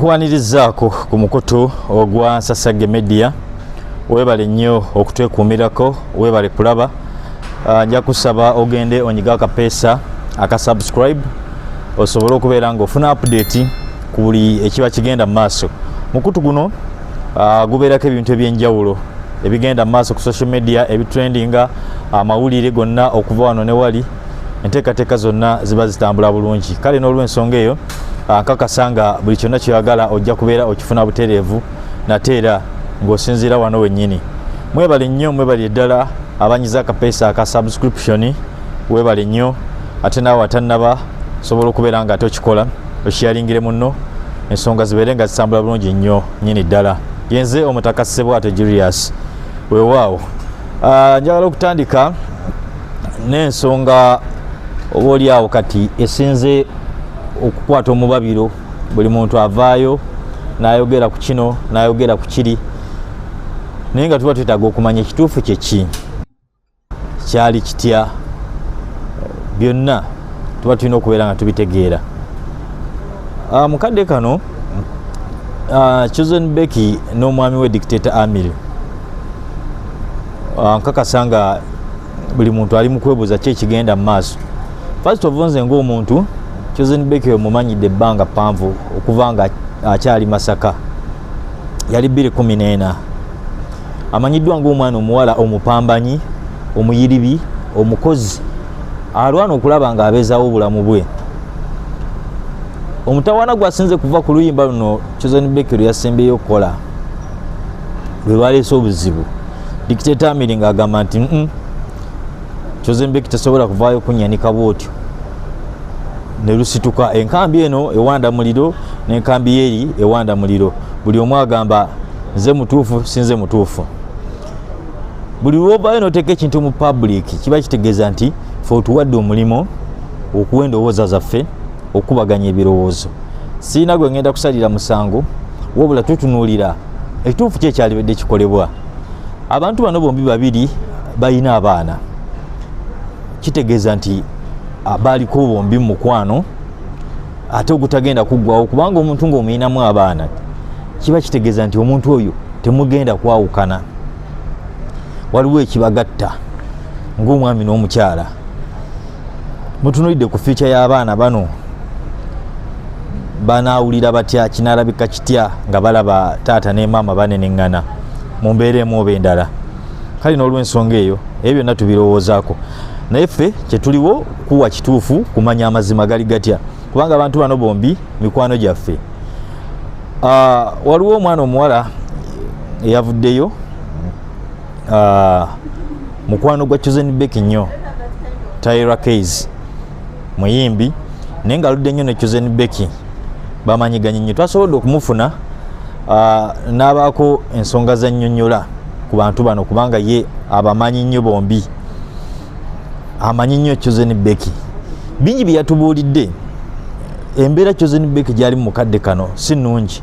Kuwanirizaako ku mukutu ogwa Nsasagge Media webale nnyo okutwekuumirako webale kulaba ah, nja kusaba ogende onyiga akapeesa aka subscribe osobole okubeera nga ofuna update ku buli ekiba kigenda mu maaso mukutu guno ah, gubeerako ebintu ebyenjawulo ebigenda mu maaso ku social media ebitrendinga amawulire gonna okuva wano ne wali enteekateeka zonna ziba zitambula bulungi kale n'olwensonga eyo ankakasa nga buli kyonna kyoyagala ojja kubeera okifuna butereevu nate era ng'osinziira wano wennyini mwebale nnyo mwebali eddala abanyiza akapeesa aka subscription webale nnyo ate naawe atannaba osobola okubeera nga ate okikola okiyalingire munno ensonga zibeere nga zitambula bulungi nnyo nyini ddala yenze omutaka ssebwato julius wewaawo Ah, njagala okutandika n'ensonga oba oli awo kati esinze okukwata omubabiro buli muntu avaayo nayogera ku kino nayogera ku kiri naye nga tuba twetaaga okumanya ekituufu kyeki kyali kitya byonna tuba tulina okubeera nga tubitegeera ah, mu kadde kano ah, chosen becky n'omwami we dictator amiri ah, nkakasa nga buli muntu ali mukwebuuza ki ekigenda mu maaso first of nze ngaomuntu chosen beke omumanyidde ebbanga ppanvu okuva nga akyali masaka yali 214 amanyiddwa ngaomwana omuwala omupambanyi omuyiribi omukozi alwana okulaba nga abezawo obulamu bwe omutawana gwasinze kuva ku luyimba luno chosen beke lwe yasembeyo okukola lwe baleese obuzibu dictator amiri nga agamba nti mm kyozimbeki tesobola kuvaayo kunyanika bwotyo nelusituka enkambi eno ewanda muliro nenkambi yeri ewanda muliro buli omu agamba nze mutuufu sinze mutuufu buli lwovayo noteeka ekintu mu public kiba kitegeeza nti fe otuwadde omulimu okuwa endowooza zaffe okukubaganya ebirowoozo siina gwe ngenda kusalira musango wabula tutunuulira ekituufu ki ekyalibadde kikolebwa abantu bano bombi babiri balina abaana kitegeeza nti baaliko bombi mu mukwano ate ogutagenda kuggwawo kubanga omuntu ng'omuyinamu abaana kiba kitegeeza nti omuntu oyo temugenda kwawukana waliwo ekibagatta ng'omwami n'omukyala mutunulidde ku fiica y'abaana bano banaawulira batya kinaalabika kitya nga balaba taata ne maama baneneŋŋana mu mbeera emu oba endala kale n'olwensonga eyo ebyo byonna tubirowoozaako naye ffe kyetuliwo kuwa kituufu kumanya amazima gali gatya kubanga abantu bano bombi mikwano gyaffe ah, waliwo omwana omuwala eyavuddeyo ah, mukwano gwa chosen bek nnyo tyra kays muyimbi naye nga aludde nnyo ne chosen beki bamanyiganye nnyo twasobodde okumufuna ah, n'abaako ensonga zannyonnyola ku bantu bano kubanga ye abamanyi nnyo bombi amanyi nnyo chosen beki bingi bye yatubuulidde embeera chosen beki gyali mu kadde kano si nnungi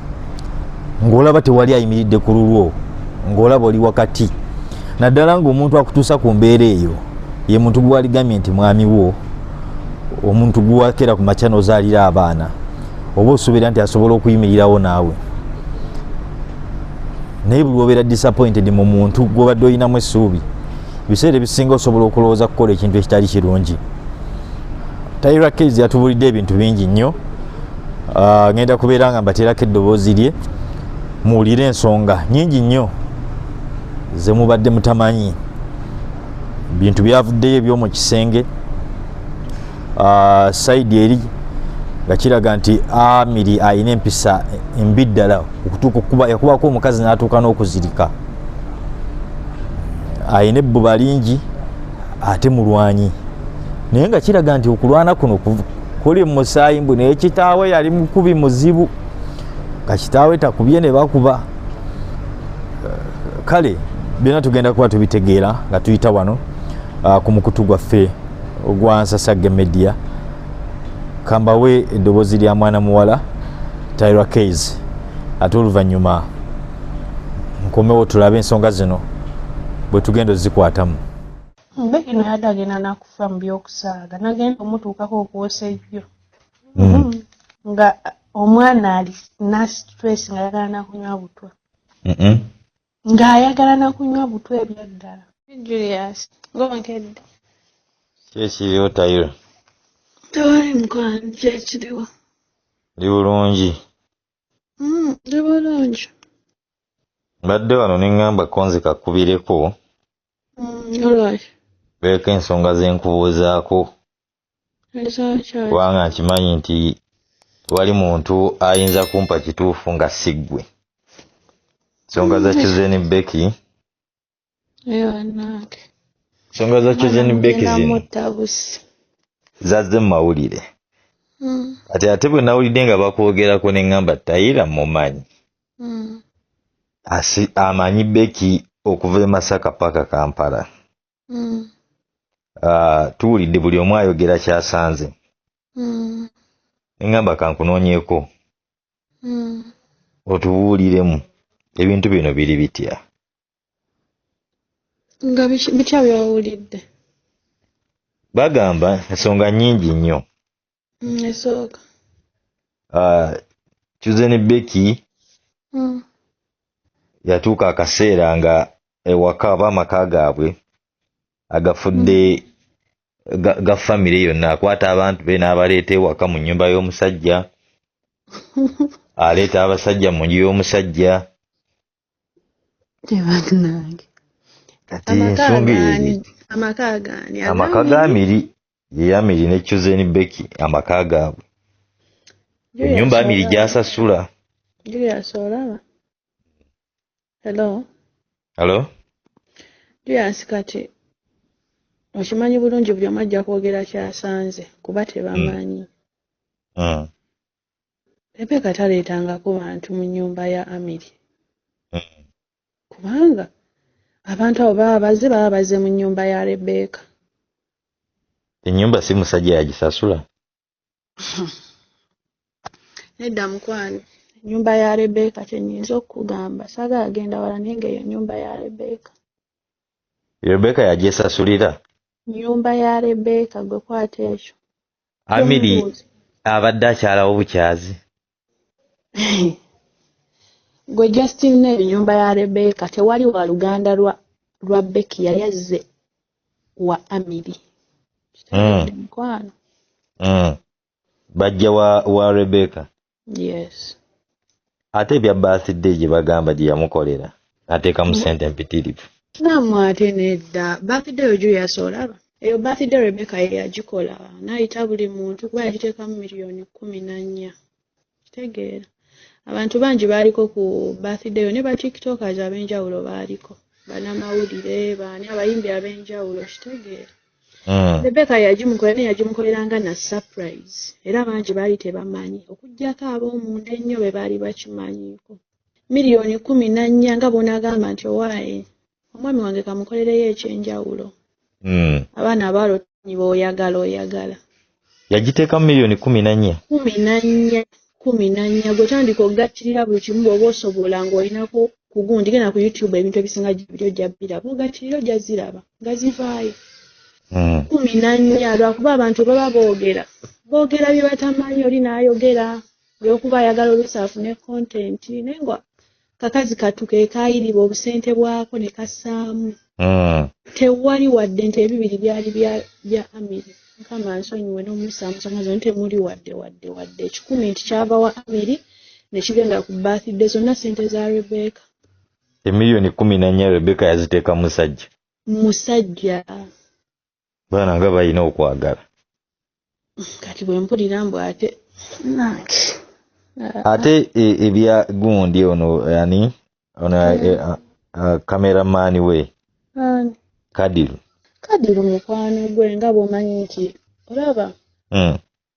ng'olaba tewali ayimiridde ku lulwo ng'olaba oli wakati naddala ng'omuntu akutuusa ku mbeera eyo ye muntu gwewaligambye nti mwami wo omuntu gwewakeera ku makya nozaalira abaana oba osuubira nti asobola okuyimirirawo naawe naye buli obeera disappointed mu muntu gwobadde olinamu essuubi ebiseera ebisinga osobola okulowooza kukola ekintu ekitali kirungi tyra kase yatubulidde ebintu bingi nnyo ah, ngenda kubeera nga mbateerako eddoboozi lye muwulire ensonga nyingi nnyo zemubadde mutamanyi bintu byavuddeyo ebyomu kisenge ah, saidi eri nga kiraga nti amiri alina empisa embi ddala yakubaako omukazi natuuka n'okuzirika alina ebbuba lingi ate mulwanyi naye nga kiraga nti okulwana kuno kuli musaayi mbu naye kitaawe yali mukubi muzibu nga kitaawe takubye ne bakuba kale byonna tugenda kuba tubitegeera nga tuyita wano ah, ku mukutu gwaffe ogwa nsasagge media kambawe eddoboozi lya mwana muwala tyra kays ate oluvannyuma nkomewo tulabe ensonga zino bwe tugenda ozikwatamu Becky naye ate agenda nakufa mu byokusaaga nagenda omutuukako okwosa ejjo hmm. Hmm. nga omwana ali nasitress nga ayagala nakunywa butwa nga ayagala nakunywa butwa ebyaddala julius ngonkedde kyekiriwo tayiro tewali mukwano kyekiriwo ndi bulungi hmm, ndi bulungi mbadde wano neŋŋamba konzika kubireko mm, beeko ensonga zenkubuuzaako kubanga nkimanyi nti wali muntu ayinza kumpa kituufu nga siggwe nsonga za chuzeni mm. beki nsonga za chuzeni beki zino zazze mu mawulire mm. kati ate bwe nawulidde nga bakwogerako ne ŋŋamba tayira mumanyi mm. asi amanyi beki okuva e masaka paka kampala mm. uh, tuwulidde buli omu ayogera kyasanze mm. engamba kankunoonyeko mm. otubuuliremu ebintu bino biri bitya nga bitya byowulidde bagamba ensonga nyingi nnyo ah, chuzeni beki hmm. yatuuka akaseera nga ewaka oba amaka gaabwe agafudde hmm. ga famire yonna akwata abantu be n'abaleeta ewaka mu nyumba y'omusajja aleeta abasajja mu nju y'omusajja amaka ga miri ye Amiri ne Chosen Becky amaka gaabwe ennyumba Amiri gy'asasula. Julius olaba? Hello? Hello? Julius kati okimanyi bulungi buli omu ajja kwogera kyasanze kuba tebamanyi. Mm. Mm. Rebeka taleetangako bantu mu nnyumba ya Amiri. Mm. kubanga abantu abo baba baze baba baze mu nyumba ya rebeka enyumba si musajja yagisasula nedda mukwano enyumba ya rebeka kyenyinza okukugamba saga agenda wala naye nga eyo nyumba ya rebeka rebeka yajesasulira nyumba ya rebeka gwe kwata ekyo amiri abadde akyalawo bukyazi gwe justin neri nyumba ya rebeka tewali wa luganda lwa lwa beki yali azze wa amiri mm. mukwano mm. bajja wa, wa rebeka yes ate ebya birthday gye bagamba gye yamukolera n'ateekamu ssente empitirivu naamu ate nedda bakidde yo juyasa olaba eyo bakidde rebeka ye yagikola n'ayita buli muntu kuba yagiteekamu miliyoni kkumi na nnya kitegeera abantu bangi baaliko ku birthday yo ne ba tiktokers ab'enjawulo baaliko banamawulire baani abayimbi ab'enjawulo kitegeera hmm. rebeka yagimukola naye yagimukolera nga na surprise era bangi baali tebamanyi okugyako ab'omunda ennyo be baali bakimanyiko million kumi nanya nga bwonagamba nti owaye omwami wange kamukolereyo ekyenjawulo hmm. abaana abalotni boyagala oyagala yagiteekamu million kumi nanya kumi nanya kumi nanya gwetandika okugattulira buli kimu bwoba osobola ngaolinako kugundi genda ku youtube ebintu ebisinga gibiri ojja biraba ogattulira ojja ziraba nga zivaayo hmm. kumi nanya lwakuba abantu baba boogera boogera byebatamanyi oli naayogera olwokuba ayagala oluusi afune content naye nga kakazi katu kekaayiriba obusente bwako ne kassaamu hmm. tewali wadde nti ebibiri byali bya amiri mukama nsonyiwe n'omusaamusamazo ni temuli wadde wadde wadde ekikumi nti kyava wa amiri ne kigenda ku birthday zonna sente za rebeka emiliyoni kumi nanya rebeka yaziteeka musajja musajja baana nga balina okwagala kati bwempulira mbu ate nange ate e, ebya gundi ono ani ono e, cameraman we kadiru kadiru mukwano gwe nga bwomanyi nti olaba hmm.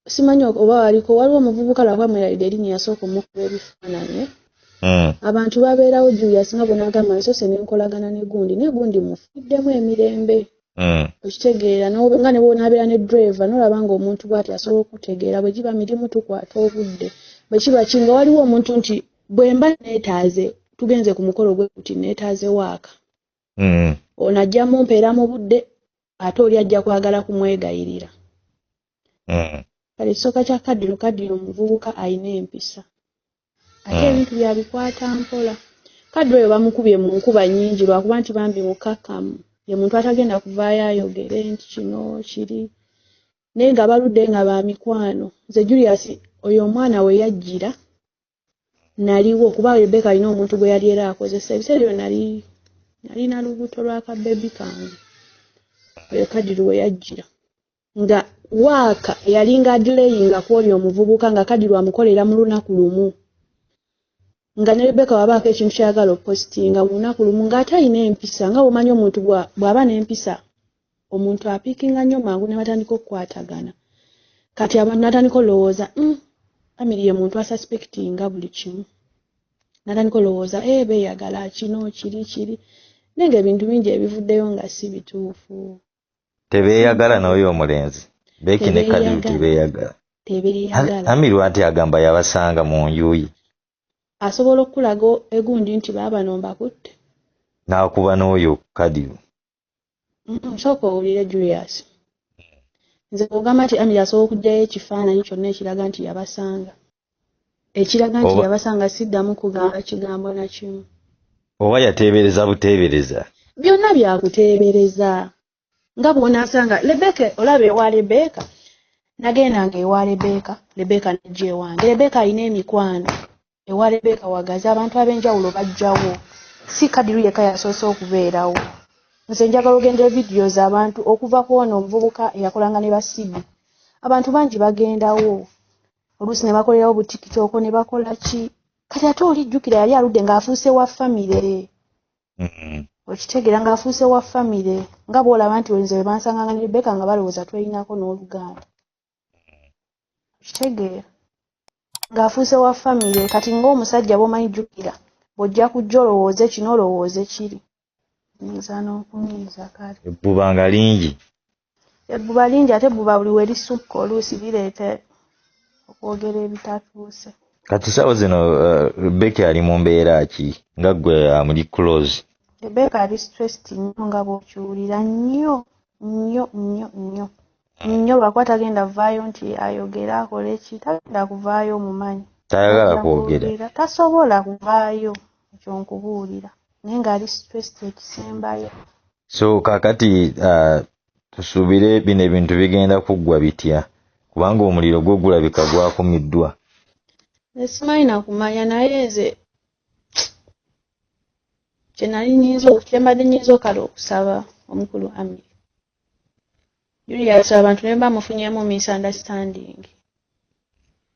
simanyi oba waliko waliwo omuvubuka lwakuba mwerabidde erinnya yasooka omukuba ebifaananyi hmm. abantu babeerawo julius nga bwenagamba nsoose nenkolagana ne gundi naye gundi mufiddemu emirembe hmm. okitegeera nga nebwonabeera ne drive nolaba nga omuntu bwati asobola okutegeera bwe giba mirimu tukwata obudde bwe kiba ki nga waliwo omuntu nti bwe mba neetaaze tugenze ku mukolo gwe kuti neetaaze waaka hmm. ono ajja mumpeera mu budde ate oli ajja kwagala kumwegayirira mm. kale ekisooka kya kadiro kadiro omuvubuka alina empisa ate mm. ebintu byabikwata mpola kadiro oyo bamukubye mu nkuba nyingi lwakuba nti bambi mukakamu ye muntu atagenda kuvaayo ayogere nti kino kiri naye nga baludde nga bamikwano nze julius oyo omwana weyajjira naliwo kuba rebeka alina omuntu gwe yali era akozesa ebiseera ebyo nali nalina lubuto lwa kabebi kange oyo kadiru we yajjira nga waaka eyalinga adileyinga ku oli omuvubuka nga kadiru amukolera mu lunaku lumu nga ne rebeka wabaako ekintu kyayagala opositinga mu lunaku lumu ng'ate alina empisa nga womanyi omuntu bw'aba n'empisa omuntu apiikinga nnyo mangu ne batandika okukwatagana kati abantu natandika olowooza mm, family ye muntu asuspectinga buli kimu natandika olowooza e eh, beyagala kino kiri kiri naye nga ebintu bingi ebivuddeyo nga si bituufu tebeyagala n'oyo omulenzi beeki ne kalimu tebeyagala amiru anti agamba yabasanga mu njuyi asobola okukulaga egundi nti baabano mbakutte n'akuba n'oyo kadiru Sooka owulire Julius. Nze ogamba nti Amiri asobola okugyayo ekifaananyi kyonna ekiraga nti yabasanga. Ekiraga nti yabasanga siddamu kugamba kigambo na kimu. Oba yateebereza buteebereza. Byonna byakuteebereza. Nga bw'onaasanga Lebeka olaba ewa Lebeka nagendanga ewa Lebeka, Lebeka n'ajja ewange. Lebeka alina emikwano. ewa rebeka wagazi abantu ab'enjawulo bajjawo si kadiru yekka yasoose okubeerawo nze njagala ogendera vidiyo z'abantu okuva ku ono omuvubuka eyakolanga ne basibi abantu bangi bagendawo oluusi ne bakolerawo butikitooko ne bakola ki kati ate olijjukira yali aludde ng'afuuse wa famire mm-hmm. okitegeera ng'afuuse wa famire nga bw'olaba nti wenze we bansanganga ne rebeka nga balowooza twelinako n'oluganda kitegeera ng'afuuse wa famire kati ng'omusajja bwomanyi jjukira bw'ojja kujja olowooze kino olowooze kiri nyinza n'okunyiiza kale ebbuba nga lingi ebbuba lingi ate ebbuba buli we lisukka oluusi bireeta okwogera ebitatuuse kati saawa zino eh, rebeka ali mu mbeera ki nga gwe amuli eh, close rebeka ali stressed nnyo nga bw'okiwulira nnyo nnyo nnyo nnyo nnyo lwakuba tagenda vaayo nti ayogere akole ki tagenda kuvaayo omumanyi tayagala kwogera tasobola kuvaayo ekyo nkubuulira naye ng'ali stressed ekisembayo so kakati uh, tusuubire bino ebintu bigenda kuggwa bitya kubanga omuliro gwo gulabika gwakumiddwa esimanyi nakumanya naye nze kyenali nyinza kyembadde nyinza okala okusaba omukulu amiri Julius abantu ne baba mufunyeemu misunderstanding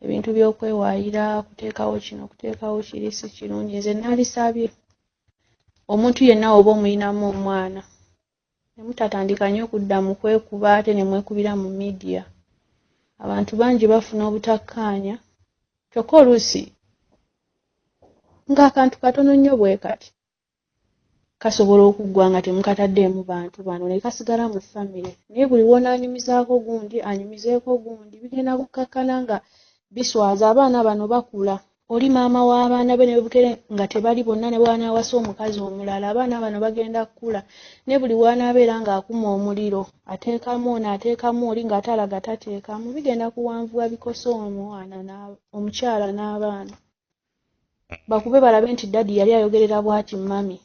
ebintu by'okwewaayira okuteekawo kino okuteekawo kiri si kirungi nze naalisabye omuntu yenna oba omuyinamu omwana ne mutatandika nnyo okudda mu kwekuba ate ne mwekubira mu midiya abantu bangi bafuna obutakkaanya kyokka oluusi ng'akantu katono nnyo bwe kati kasobola okuggwa nga temukataddeemu bantu bano ne kasigala mu famire naye buli w'onaanyumizaako gundi anyumizeeko gundi bigenda kukkakkana nga biswaza abaana bano bakula oli maama w'abaana be nebukere nga tebali bonna ne bwanaawasa omukazi omulala abaana bano bagenda kukula ne buli w'anaabeera ng'akuma omuliro ateekamu ono ateekamu oli ng'ate alaga tateekamu bigenda kuwanvuwa bikosa omwana omukyala n'abaana bakube balabe nti daddy yali ayogerera bwati mummy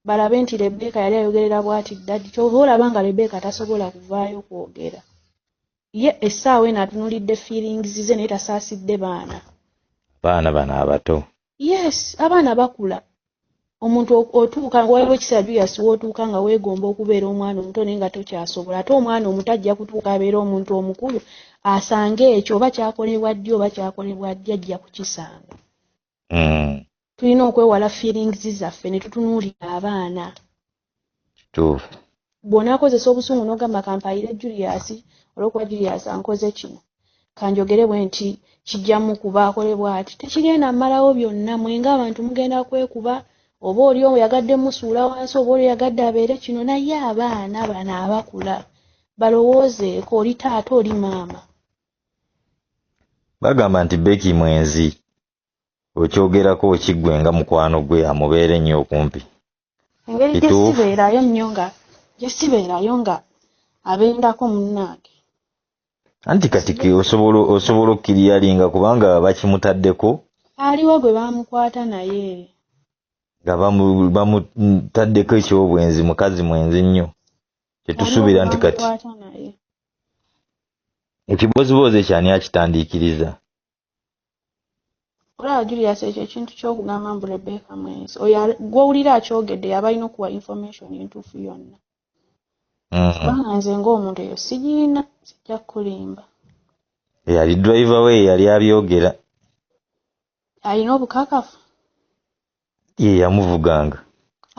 balabe nti rebeka yali ayogerera bwati daddy kyova olaba nga rebeka tasobola kuvaayo kwogera ye essaawa eno atunulidde feelings ze naye tasaasidde baana baana bano abato yes abaana bakula omuntu otuuka nga waliwo ekiseera juyasi wootuuka nga weegomba okubeera omwana omuto naye nga tokyasobola ate omwana omuto ajja kutuuka abeera omuntu omukulu asange ekyo oba kyakolebwa ddi oba kyakolebwa ddi ajja kukisanga mm. tulina okwewala feelings zaffe ne tutunuulira abaana kituufu bw'onaakozesa obusungu n'ogamba kampayire julius olwokuba julius ankoze kino kanjogere bwe nti kijjamu kuba akole bw'ati tekigenda mmalawo byonna mwenga abantu mugenda kwekuba oba oli oyagadde musuula wansi oba oli oyagadde abeere kino naye abaana bano abakula balowoozeeko oli taata oli maama bagamba nti beki mwenzi okyogerako okiggwe nga mukwano gwe amubeere nnyo okumpi engeri Kituufu. gyesibeerayo nnyo nga gyesibeerayo nga abendako munnange anti kati ke- osobola osobola okukiriyalinga kubanga bakimutaddeko aliwo gwe baamukwata naye nga bamu- bamutaddeko ekyobwenzi mukazi mwenzi nnyo kyetusuubira nti kati Waliwo gwe baamukwata naye. ekiboziboozi ekyo ani akitandiikiriza olaba julius ekyo ekintu kyokugamba mbu rebecca mwenzi oyo gwowulira akyogedde yaba alina okuwa information entuufu yonna mm. kubanga nze ngaomuntu eyo sigiina sijja kukulimba eyali driver we yeyali abyogera alina obukakafu ye yamuvuganga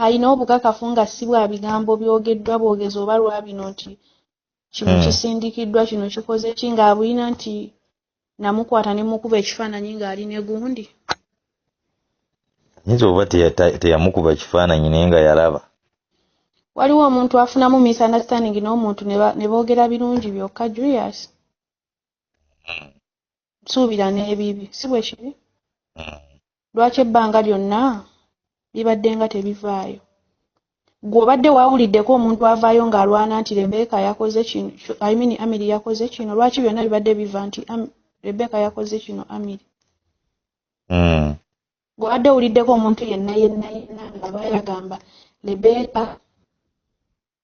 alina obukakafu nga si bwa bigambo byogeddwa bwogezi oba lwabino nti kino hmm. kisindikiddwa kino kikoze ki ng'abulina nti namukwata ne mukuba ekifaananyi ng'ali ne gundi nyinza oba teyamukuba kifaananyi naye nga yalaba waliwo omuntu afunamu misunderstanding n'omuntu ne boogera birungi byokka julius hmm. nsuubira n'ebibi si bwe kiri hmm. lwaki ebbanga lyonna bibadde nga tebivaayo gwe obadde waawuliddeko omuntu avaayo ng'alwana nti rebeka yakoze kino i mean amiri yakoze kino lwaki byonna bibadde biva nti rebeka yakoze kino amiri hmm. gwe obadde owuliddeko omuntu yenna yenna yenna ng'aba yagamba rebeka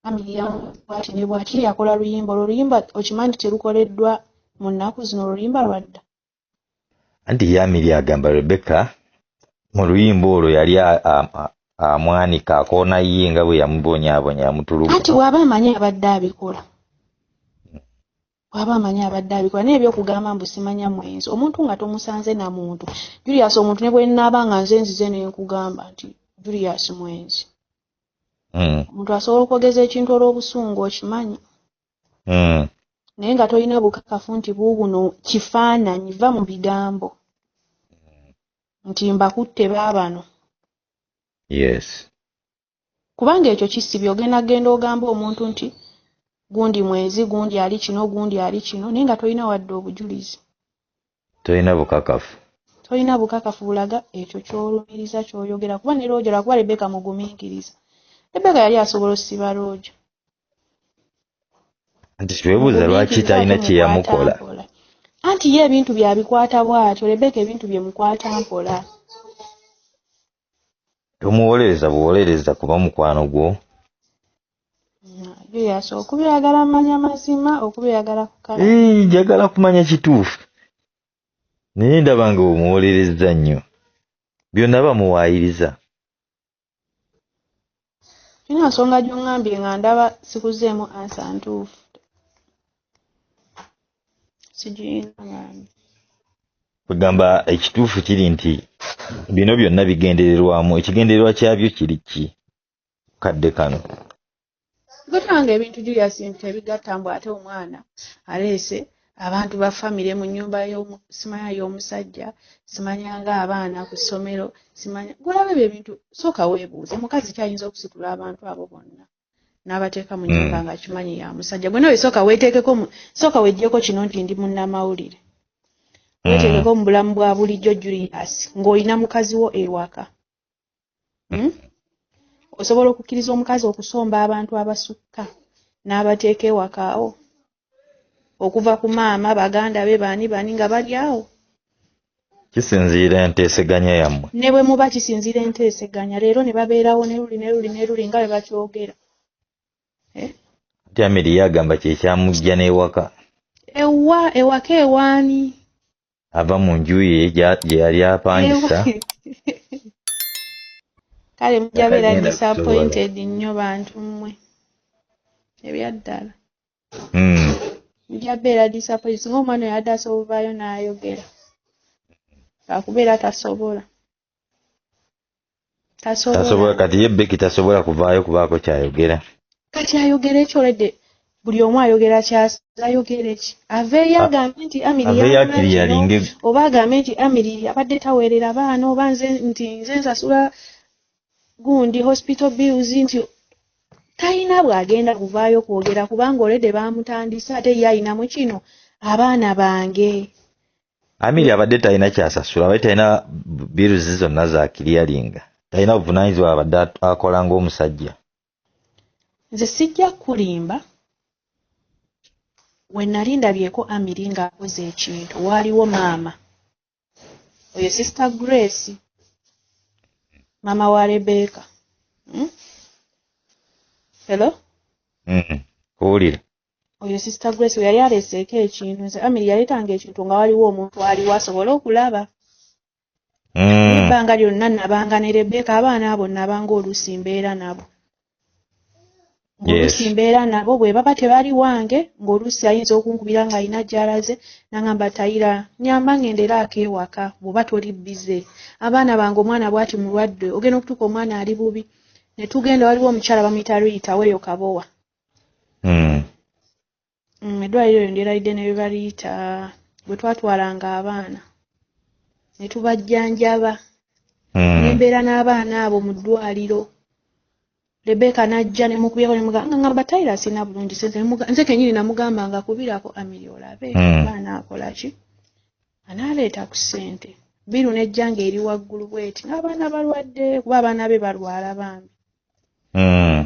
Family ya bwati ne bwati yakola luyimba olwo luyimba okimanyi nti terukoleddwa mu nnaku zino olwo luyimba lwadda anti yamiri agamba rebecca mu luyimba olwo yali amwanika akoona ye nga bwe yamubonyabonya yamutulugu anti waaba amanyi abadde abikola waaba amanyi abadde abikola naye ebyokugamba mbu simanya mwenzi omuntu nga tomusanze na muntu julius omuntu ne bwenaaba nga nze nzize ne nkugamba nti julius mwenzi hmm. omuntu asobola okwogeza ekintu olw'obusungu okimanyi hmm. naye nga tolina bukakafu nti buubuno kifaananyi va mu bigambo hmm. nti mbakutte baabano yes kubanga ekyo kisibi ogenda genda ogamba omuntu nti gundi mwezi gundi ali kino gundi ali kino naye nga tolina wadde obujulizi tolina bukakafu tolina bukakafu bulaga ekyo kyolumiriza kyoyogera kuba ne looja lwakuba rebeka mugumiikiriza rebeka yali asobola osiba looja nti twebuuza lwaki talina kyeyamukola anti ye ebintu byabikwata bwatyo rebeka ebintu byemukwata mpola tomuwolereza buwolereza kuba mukwano gwo yeyasa okubyagala manya mazima okubyagala kukala njagala kumanya kituufu naye ndaba nga omuwolereza nnyo byonna bamuwaayiriza Tulina nsonga gy'ongambye nga ndaba sikuzeemu ansa ntuufu. Kwegamba ekituufu kiri nti bino byonna bigendererwamu, ekigendererwa kyabyo kiri ki kadde kano? Gutanga ebintu Julius nti tebigatta mbu ate omwana aleese abantu ba famire mu nyumba simanya y'omusajja simanya nga abaana ku ssomero simanya gulabe ebyo ebintu sooka weebuuze mukazi kyayinza okusitula abantu abo bonna n'abateeka mu nyumba hmm. nga kimanyi ya musajja gwe nawe sooka weeteekeko sooka wejjeko kino nti ndi munnamawulire hmm. weeteekeko mu bulamu bwa bulijjo julius ng'olina mukazi wo ewaka hmm? osobola okukkiriza omukazi okusomba abantu abasukka n'abateeka ewakaawo okuva ku maama baganda be baani baani nga bali awo kisinziira enteeseganya yammwe ne bwe muba kisinziira enteeseganya leero ne babeerawo ne luli ne luli ne luli nga bwe bakyogera eh? ati amiri yagamba kyekyamujja n'ewaka ewa ewaka ewaani ava mu nju ye gye yali apangisa kale mujabeera disappointed nnyo bantu mmwe ebyaddala hmm. mujabeera disappointed singa omwana oyo adde asobovaayo n'ayogera akubeera tasobola tasobola tasobola kati ye beki tasobola kuvaayo kubaako kyayogera kati ayogera ekyo olede buli omu ayogera kyas- ayogera eki aveeyo A- agambe nti amiri aveeyo yalina akiri kino, yalinge oba agambe nti amiri abadde taweerera baana oba nze nti nze nsasula gundi hospital bills nti talina bw'agenda kuvaayo kwogera kubanga olede baamutandise ate ye alinamu kino abaana bange Amiri abadde talina kyasasula abadde talina biruzi zonna za kiriyalinga talina buvunanyizibwa abadde akola ng'omusajja nze sijja kukulimba we nali ndabyeko amiri ng'akoze ekintu waaliwo maama oyo sister grace maama wa rebeka hmm? hello mm-hmm. kuwulira oyo sister grace we yali aleeseeko ekintu nze amiri yaleetanga ekintu nga waliwo omuntu aliwo asobole okulaba hmm. ebbanga lyonna nabanga ne rebeka abaana abo nabanga oluusi mbeera nabo ngaoluusi mbeera nabo bwe baba tebali wange ngaoluusi ayinza okunkubira nga alina gyalaze nangamba tayira nyamba ngende era akeewaka bwoba toli bize abaana bange omwana bwati mulwadde ogenda okutuuka omwana ali bubi ne tugenda waliwo omukyala bamuyita riyita weeyo kabowa hmm. mm, eddwaliro eryo ndyerayidde ne bebaliyita bwe twatwalanga abaana ne tubajjanjaba hmm. nembeera n'abaana abo mu ddwaliro rebeka n'ajja nemukubyeko nemugamba nga ngamba tayira sirina bulungi sente nze kenyini namugamba nga kubirako amiri olabe hmm. abaana akolaki anaaleeta ku ssente biru nejja nga eri waggulu bweti ng'abaana balwadde kuba abaana be balwala bambi hmm.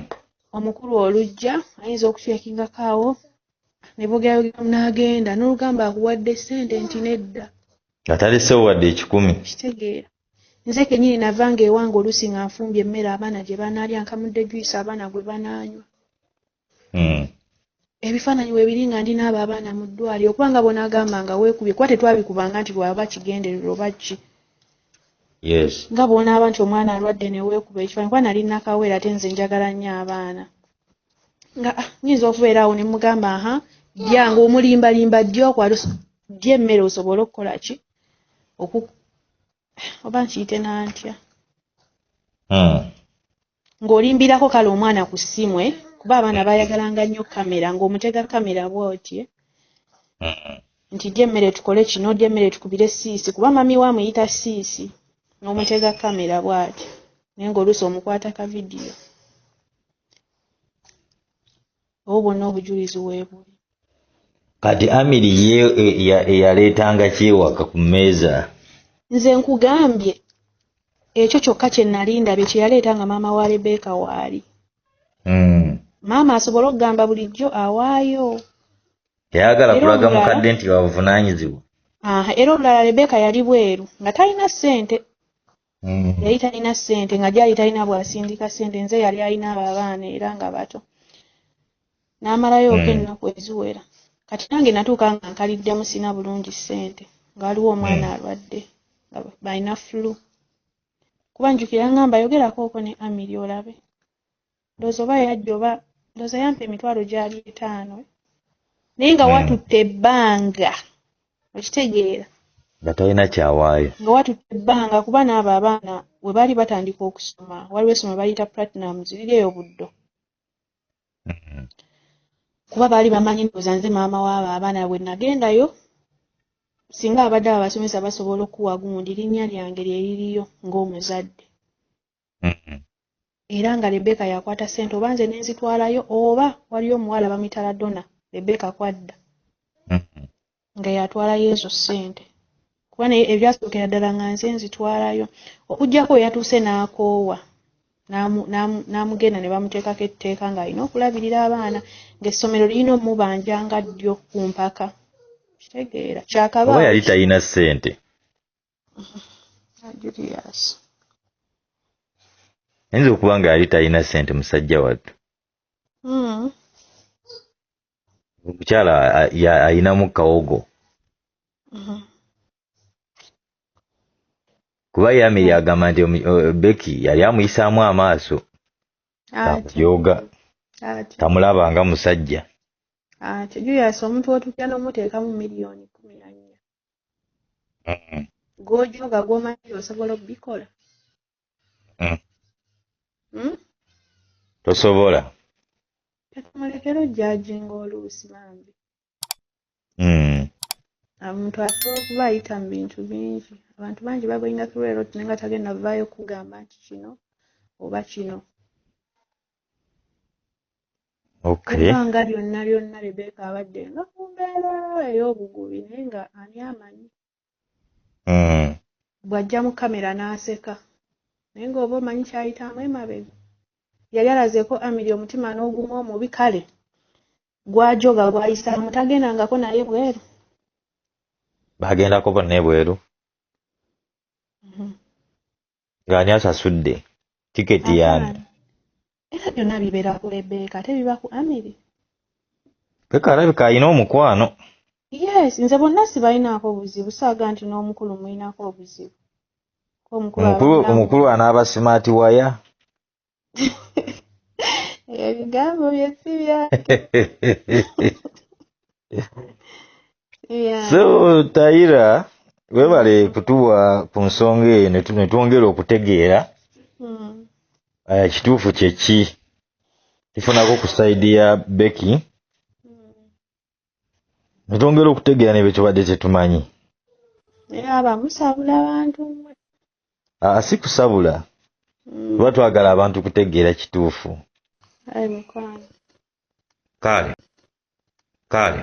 omukulu olujja ayinza okukyekingakaawo ne bogerayogeramu n'agenda n'olugamba akuwadde ssente nti nedda nga talesewo wadde ekikumi kitegeera nze kenyini navanga ewange oluusi nga nfumbye emmere abaana gye banaalya nkamudde juyisi abaana gwe banaanywa hmm. ebifaananyi webiri nga ndi naabo abaana mu ddwali okuba nga bona agamba nga weekubye kuba tetwabikubanga nti lwaba kigenderero oba ki yes nga bwonaaba nti omwana alwadde neweekuba ekifaanyi kuba nali nakaweera ate nze njagala nnyo abaana nga ah, nyinza okubeera awo ne mugamba aha byange omulimbalimba ddi okwali ddi emmere osobole okukola ki oku oba nkiyite nantya hmm. ng'olimbirako kale omwana ku ssimu eh? kuba abaana bayagalanga nnyo kamera ng'omutega kamera bwotye nti dya emmere tukole kino dya emmere tukubire siisi kuba mami we amuyita siisi n'omutega kamera bwatyo naye ng'oluusi omukwata ka vidiyo obwo bwonna obujulizi weebuli kati amiri ye eyaleetanga e, e, kyewaka ku mmeeza nze nkugambye ekyo kyokka kye nali ndabye kye yaleeta nga maama wa rebeka waali hmm. maama asobole okugamba bulijjo awaayo teyagala kulaga mukadde nti wabuvunaanyizibwa era olulala rebeka yali bweru nga talina ssente mm. yali talina ssente nga gyali talina bwasindika ssente nze yali alina abo abaana era nga bato n'amalayo oka mm. ennaku eziwera kati nange natuuka nga nkaliddemu sina bulungi ssente nga waliwo omwana mm. alwadde nga balina flu kuba njukira ngamba yogerako oko ne amiri olabe ndoza oba yajja oba ndoza yampa emitwalo gyali etaano naye nga hmm. watutte ebbanga okitegeera nga talina kyawaayo nga watutte ebbanga kuba naabo abaana we baali batandika okusoma waliwo esoma bayita platinums liri eyo buddo hmm. kuba baali bamanyi ndoza nze maama waabo abaana bwe nagendayo singa abadde abasomesa basobola okuwa gundi linnya lyange lye liriyo ng'omuzadde mm. era nga rebeka yakwata sente oba nze nenzitwalayo oba waliyo omuwala bamwita ladona rebeka kwadda mm-hmm. nga yatwalayo ezo sente kuba naye ebyasookera ddala nga nze nzitwalayo okugjako yatuuse n'akoowa n'amugenda ne bamuteekako etteeka ng'alina okulabirira abaana ng'essomero lirina omubanja nga ddyo ku mpaka kitegeera kyakaba yali talina ssente Julius. Ayinza okuba nga yali talina ssente musajja wattu. Hmm. Omukyala alinamu kawogo. Hmm. Kuba Yamiri agamba nti Becky yali amuyisaamu amaaso. Yoga. Tamulaba nga musajja. Ate Julius omuntu otuuka n'omuteekamu miliyoni kumi na nnya. mm. gwojoga gwomanyi osobola obikola mm. hmm? tosobola tetumulekera ojajinga oluusi bambi hmm. omuntu asobola okuba ayita mu bintu bingi abantu bangi bagoinga kulwero tinaye nga tagenda vaayo kugamba nti kino oba kino ebbanga lyonna lyonna rebeka abadde nga ku mbeera ey'obugubi naye nga ani amanyi hmm. bw'ajja mu kamera n'aseka naye ng'oba omanyi kyayitamu emabega yali alazeeko amiri omutima n'ogumu omubi kale gwajoga gwayisaamu tagendangako naye bweru bagendako bonna ebweru mhm. ng'ani asasudde tiketi yaani era byonna bibeera ku lebeeka ate biba ku amiri beka alabika alina omukwano yes nze bonna sibalinaako obuzibu saaga nti n'omukulu mulinaako obuzibu omukulu anaaba simaati waya ebyo bigambo bye si byange si byange so tayira webale kutuwa ku nsonga eyo ne tu- ne twongera okutegeera Mm. eh, kituufu kyeki tufunako ku saidi ya beki Mm. netwongera okutegeera nebyo tubadde tetumanyi naye aba musabula abantu mwe aa si kusabula mm. tuba twagala abantu kutegeera kituufu kale kale